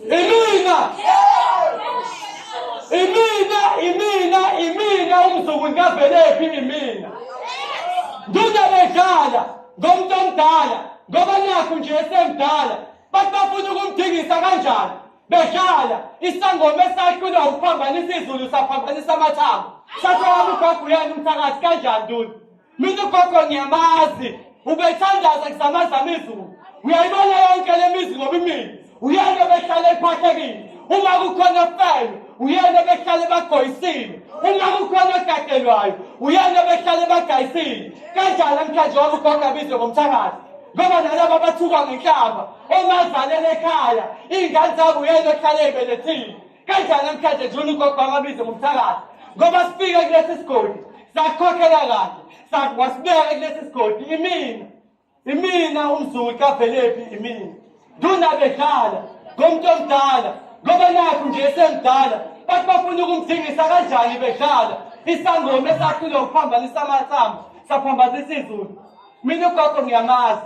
Imina! Imina, imina, imina umzukulu kavelephi imina. Nduda bedlala ngomuntu omdala ngoba nakhu nje esemdala bathi bafuna ukumdingisa kanjani bedlala isangoma esaqinwa ukuphambanisa izulu saphambanisa amathambo sathola umgaguyana umthakathi kanjani nduna Mina ugogo ngiyamazi ubethandaza kusamazama izulu uyayibona yonke le mizi ngoba imini uyena behlale ephathekile uma kukhona felo uyena behlale bagoyisile uma kukhona ogadelwayo uyena behlale bagayisile kanjani namhlanje wami ugogo abizwe ngomthakathi ngoba nalaba abathukwa ngenhlamba omazalele ekhaya iy'ngane zabo uyena ohlale ebelethile Kanjani namhlanje nje uNugogo angabize ngomthakathi ngoba sifike kulesi sigodi sakhokhela kahle sakwasibeka kulesi sigodi imina imina umzulu kavelephi imina nduna bedlala ngomuntu omdala ngoba nakhu nje esemdala bathi bafuna ukumthingisa kanjani bedlala isangoma esakhile ngokuphambanisa amathamba saphambazisa izulu mina ugogo ngiyamazi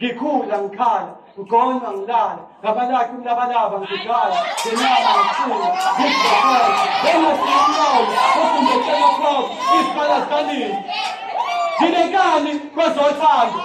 ngikhula ngikhala ngigonywa ngilala ngabalakhi umlabalaba ngidlala ngenyama ngifuna ngizokwenza engasinqobo ofumbetshela kwabo isikhala sikanini nginekani kwezothando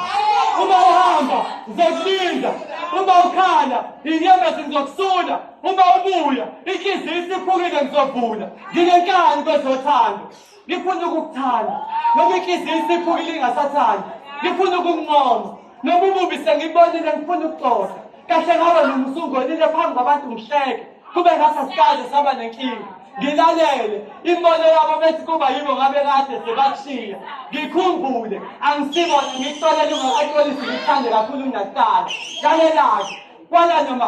uma uhamba ngizokulinda uma ukhala inyembezi ngizokusula uma ubuya inhliziyo isiphukile ngizovula nginenkani kwezothando lifuna ukukuthanda noma inhliziyo isiphukile ingasathandi lifuna ukunqoma noma umubi sengibonile ngifuna ukuxoxa kahle ngaba noma usungonile phambi kwabantu ngihleke kube ngasa sikaze saba nenkinga ngilalele imbono yabo bethi kuba yibo ngabe kade sebashiya ngikhumbule angisibona ngikuxolele ungakaxolisi ngikuthande kakhulu ungakuqala lalelake kwala noma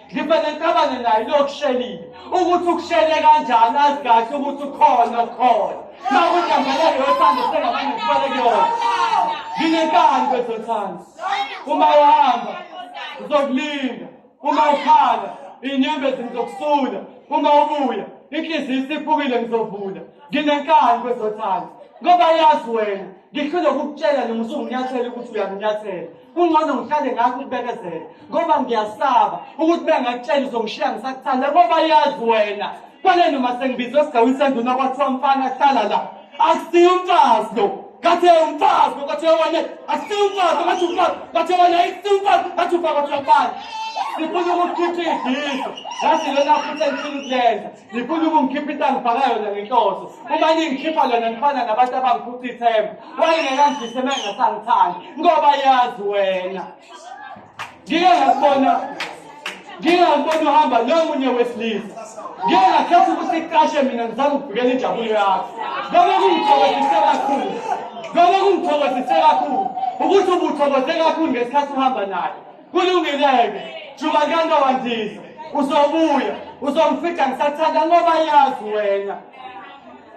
ngivele ngicabane naye lokushelile ukuthi ukushele kanjani azi kahle ukuthi ukhona ukhona makunambala yothando sengabanye ngifale kuyona nginenkani kwezothando uma uhamba uzokulinda uma ukhala inyembezi ngizokusula uma ubuya inhliziyo isiphukile ngizovula nginenkani kwezothando ngoba yazi wena ngihlule ukukutshela noma usunginyathela ukuthi uyanginyathela kungcono ngihlale ngakho ukubekezela ngoba ngiyasaba ukuthi bengakutshela uzongishiya ngisakuthanda ngoba yazi wena kwaneni uma sengibizwe esigawini senduna kwathiwa mfana hlala la akusiyo umfazi lo kathe umfazi lo kathe wena akusiyo umfazi lo kathe umfazi kathe wena akusiyo umfazi kathe umfazi kathe umfazi sifuna ukuchitha iziso ngathi lona futhi engifuna ukulenza ngifuna ukungikhipha into angifaka yona ngenhloso uma ningikhipha lona ngifana nabantu abangiphutha ithemba wayengekangidlise uma engasangithandi ngoba yazi wena ngike ngakubona ngike ngakubona uhamba nomunye wesilisa ngike ngakhetha ukuthi iqashe mina ngizama ukuvikela injabulo yakho noma kungithokozise kakhulu noma kungithokozise kakhulu ukuthi ubuthokoze kakhulu ngesikhathi uhamba naye kulungileke jubakanga wandiza uzobuya uzongifida ngisathanda ngoba yazi wena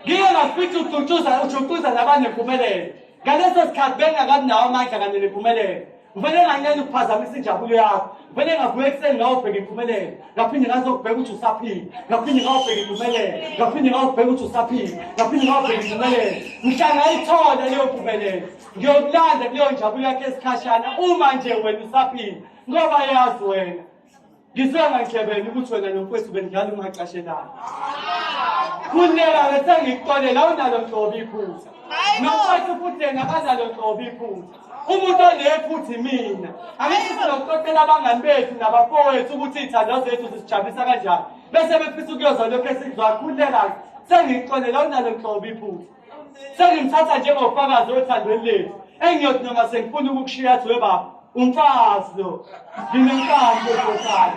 ngiye ngafitha ujucuza ujucuza labanempumelelo ngaleso sikhathi bengakabi nawo amandla kanye nempumelelo ngivele nganele ukuphazamisa injabulo yakho ngivele ngavuka ekuseni ngawubheka impumelelo ngaphinde ngazokubheka ukuthi usaphile ngaphinde ngawubheka impumelelo ngaphinde ngawubheka ukuthi usaphile ngaphinde ngawubheka impumelelo mhla ngayithola leyo mpumelelo ngiyokulanda kuleyo njabulo yakho esikhashana uma nje wena usaphila ngoba yazi wena ngisonga ngihlebene ukuthi wena nomfwethu benidlala ungacashelani kunela ngesengikuxolela awunalo nhlobo iphutha nomfwethu futhi yena akanalo nhlobo iphutha umuntu onephutha imina angithi sizokuxoxela abangani bethu nabafowethu ukuthi iy'thando zethu zisijabulisa kanjani bese befisa ukuyoza lokhu esikuzwakhulelake sengikuxolela awunalo nhlobo iphutha sengimthatha njengofakazi othandweni lethu engiyothi noma sengifuna ukukushiya athi webaba umfazi lo nginenkani ezohlala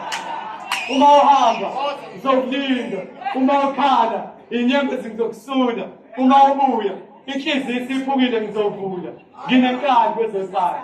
uma uhamba ngizokulinda uma ukhala inyembezi ngizokusula uma ubuya inhliziyo isiphukile ngizovula nginenkani kwezohlala